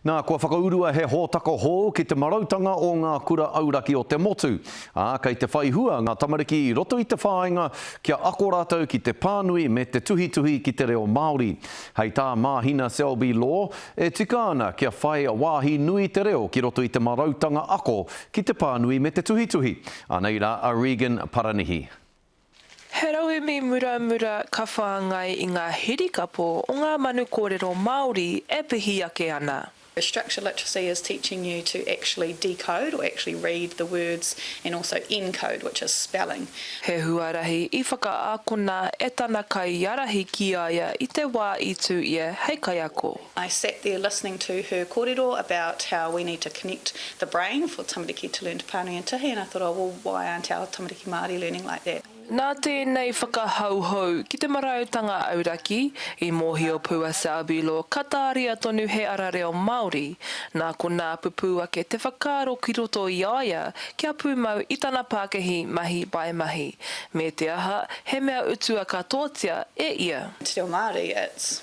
Nā, kua whakaurua he hōtaka hou ki te marautanga o ngā kura auraki o te motu, ā, kei te whai hua ngā tamariki i roto i te whāinga kia ako rātou ki te pānui me te tuhituhi ki te reo Māori. Hei tā Māhina Selby Law, e tika ana kia whai wāhi nui te reo ki roto i te marautanga ako ki te pānui me te tuhituhi. Anei rā a Regan Paranihi. He rauemi muramura ka whāngai i ngā hirikapo o ngā manu kōrero Māori e pihi ake ana. Structure literacy is teaching you to actually decode or actually read the words and also encode, which is spelling. He huarahi i whakaakona e tana kaiarahi ki a ia i te wā i tū ia hei kaiako. I sat there listening to her korero about how we need to connect the brain for tamariki to learn Te Pānui and Tihi and I thought oh well why aren't our tamariki Māori learning like that. Nā tēnei whakahouhou ki te marautanga auraki, i mōhio pū a Selby Law ka tāria tonu he ara reo Māori, nā konā pupū ake te whakaaro ki roto i a ia kia pūmau i tana pākihi mahi by mahi, me te aha, he mea utua katoatia e ia. Te reo Māori, it's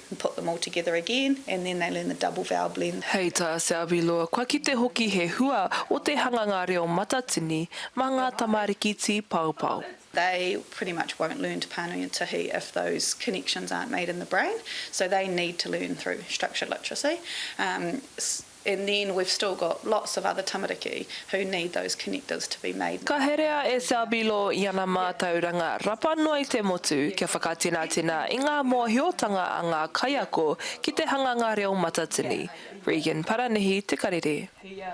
and put them all together again and then they learn the double vowel blend. Hei tā Selby Loor, kua kite hoki he hua o te hanganga reo matatini mā ngā tamariki tīpaopao. They pretty much won't learn Te Pānui o Tihi if those connections aren't made in the brain, so they need to learn through structured literacy. And then we've still got lots of other tamariki who need those connectors to be made. Ka herea e Selby Law i ana mātauranga rapa noa i te motu kia whakatinatena i ngā mōhiotanga a ngā kaiako ki te hanganga reo matatini, Regan Paranihi Te Karere.